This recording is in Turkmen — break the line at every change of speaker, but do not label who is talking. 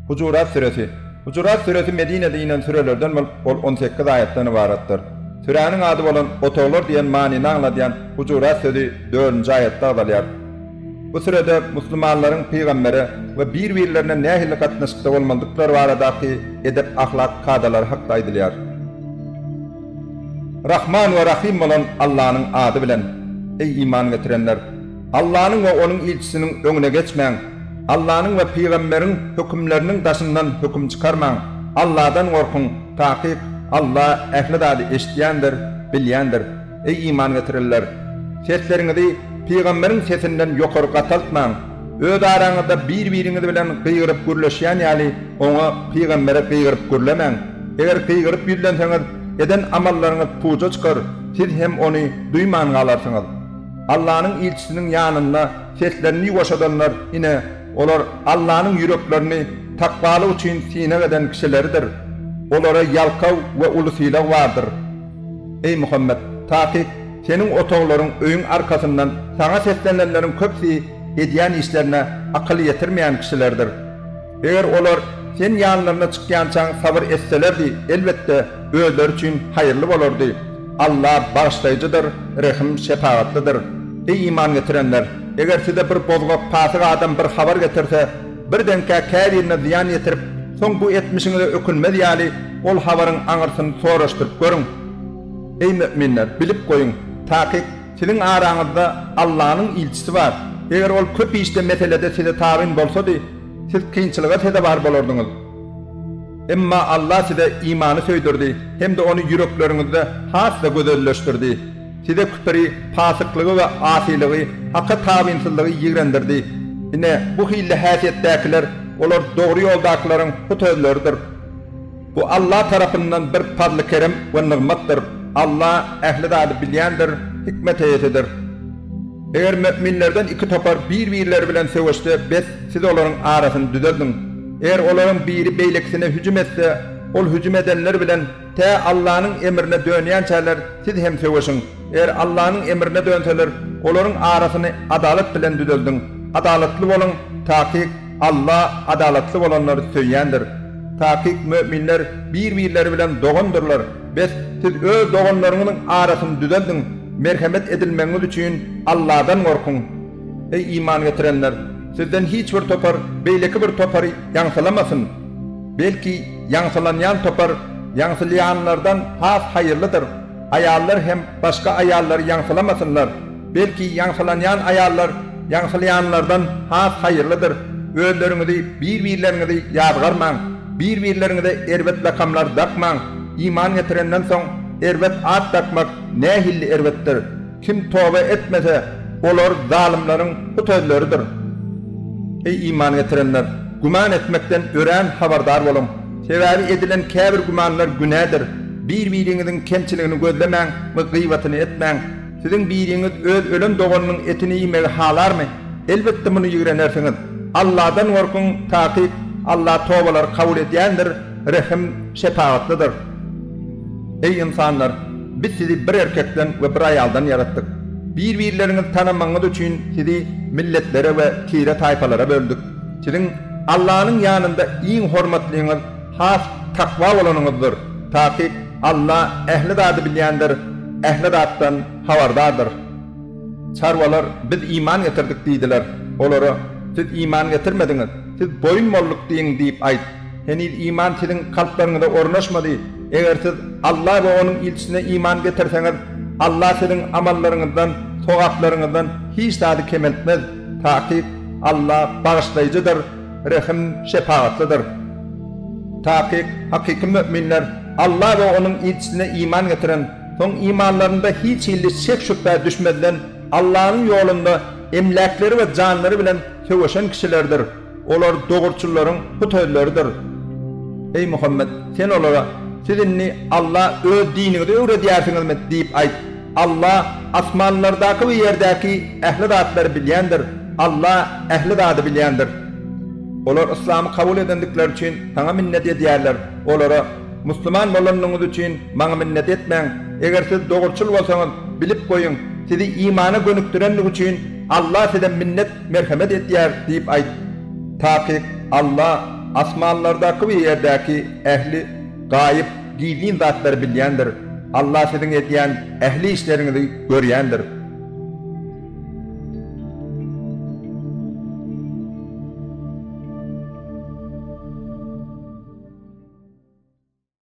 Hujurat süresi. Hujurat süresi Medinede inen sürelerden bolup, ol on sekiz aýatdan ybaratdyr. Süräniň ady bolan Otaglar diýen manyny aňladýan Hujurat sözi dördünji aýatda agzalýar. Bu sürede musulmanlaryň pygambere we bir-birlerine nähili gatnaşykda bolmalydyklary baradaky edep-ahlak kadalary hakda aýdylýar. Rahman we Rahym bolan Allanyň ady bilen. Eý iman getirenler! Allanyň we Onuň ilçisiniň öňüne geçmäň. Allanyň we pygamberiň hökümleriniň daşyndan höküm çykarmaň. Alladan gorkuň, takyk, Alla ähli zady eşidýändir, bilýändir. Eý, iman getirenler! Sesleriňizi pygamberiň sesinden ýokary gataltmaň. Öz araňyzda bir-biriňiz bilen gygyryp gürleşýän ýaly, oňa, pygambere, gygyryp gürlemäň. Eger gygyryp ýüzlenseňiz, eden amallaryňyz puja çykar, siz hem ony duýman galarsyňyz. Allanyň ilçisiniň ýanynda seslerini ýuwaşadanlar, ine, olar Allanyň ýüreklerini takwalyk üçin synag eden kişileridir. Olara ýalkaw we uly sylag bardyr. Eý, Muhammet! Takyk, seniň otaglaryň, öýüň arkasyndan saňa seslenenleriň köpüsi edýän işlerine akyl ýetirmeýän kişilerdir. Eger olar Sen ýanlaryna çykýançaň sabyr etselerdi, elbetde, özleri üçin haýyrly bolardy. Alla Bagyşlaýjydyr, Rehim, Şepagatlydyr. Eý iman getirenler! Eger size bir bozgak, pasyk adam bir habar getirse, birdenkä käbirine zyýan ýetirip, soň bu etmişiňize ökünmez ýaly, ol habaryň aňyrsyny soraşdyryp görüň. Eý möminler, bilip goýuň, takyk, siziň araňyzda Allanyň ilçisi bar. Eger ol köp işde, meselede size tabyn bolsady, Siz kynçylyga sezewar bolardyňyz. Emma Allah size imany söýdürdi hem-de ony ýürekleriňizde has-da gözelleşdirdi. Size küpri, pasyklygy we asylygy, Haka tabynsyzlygy ýigrendirdi. Ine, bu hilli häsiýetdäkiler, olar dogry ýoldakylaryň hut özleridir. Bu Alla tarapyndan bir pazly-kerem we nygmatdyr. Alla ähli zady bilýändir, hikmet eýesidir. Eger möminlerden iki topar bir-birleri bilen söweşse, bes, siz olaryň arasyny düzeldiň. Eger olaryň biri beýlekisine hüjüm etse, ol hüjüm edenler bilen tä Allanyň emrine dönýänçäler siz hem söweşiň. Eger Allanyň emrine dönseler, olaryň arasyny adalat bilen düzeldiň. Adalatly boluň, takyk, Alla adalatly bolanlary söýýändir. Takyk möminler bir-birleri bilen dogandyrlar. Bes, siz öz doganlaryňyzyň arasyny düzeldiň, merhemet edilmegiňiz üçin Alladan gorkuň. Eý, iman getirenler! Sizden hiç bir topar beýleki bir topary ýaňsylamasyn. Belki, ýaňsylanýan topar ýaňsylýanlardan has haýyrlydyr. Aýallar hem başga aýallary ýaňsylamasynlar. Belki ýaňsylanýan aýallar ýaňsylýanlardan has haýyrlydyr. Özleriňizi, bir-birleriňizi ýazgarmaň. Bir-birleriňize erbet lakamlar dakmaň. Iman getirenden soň erbet at dakmak nähilli erbetdir. Kim toba etmese, olar zalymlaryň bu sözleridir. Eý, iman getirenler! Güman etmekden örän habardar boluň. Sebäbi edilen käbir gümanlar günädir. Bir-biriňiziň kemçiligini gözlemäň we gyýbatyny etmäň. Siziň biriňiz öz ölen doganynyň etini iýmegi halarmy? Elbetde, muny ýigrenersiňiz. Alladan gorkuň, takyk, Alla tobalary kabul edýändir. Rehim şepagatlydyr. Eý ynsanlar! Biz sizi bir erkekden we bir aýaldan ýaratdyk. Bir-birleriňizi tanamagyňyz üçin sizi milletlere we tire-taýpalara böldük. Siziň Allanyň ýanynda iň hormatlyňyz has takwa bolanyňyzdyr. Takyk, Alla ähli zady bilýändir, ähli zatdan habardardyr. Çarwalar, Biz iman getirdik diýdiler. Olara, Siz iman getirmediňiz, siz boýun bolduk diýiň diýip aýt. Heniz iman siziň kalplaryňyza ornaşmady. Eger siz Alla we Onuň ilçisine iman getirseňiz, Alla siziň amallaryňyzdan, sogaplaryňyzdan, hiç zady kemeltmez. Takyk, Alla Bagyşlaýjydyr, Rehim, Şepagatlydyr. Takyk, hakyky möminler Alla we Onuň ilçisine iman getiren, soň imanlarynda hiç hilli şek-şübhä düşmezden, Allanyň ýolunda emläkleri we janlary bilen söweşen kişilerdir. Olar dogruçyllaryň bu sözleridir. Eý Muhammet! Sen olara, Siz indi Alla Öz diniňizi öwredýärsiňizmi? diýip aýt. Alla asmanlardaky we ýerdäki ähli zatlary bilýändir. Alla ähli zady bilýändir. Olar yslamy kabul edendikleri üçin Saňa minnet edýärler. Olara, Musulman bolanyňyz üçin Maňa minnet etmäň. Eger siz dogruçyl bolsaňyz, bilip goýuň, sizi imana gönükdirendigi üçin Alla size minnet Merhemet etýär diýip aýt. Takyk, Alla asmanlardaky we ýerdäki ähli gaýyp, gizlin zatlary bilýändir. Alla siziň edýän ähli işleriňizi görýändir.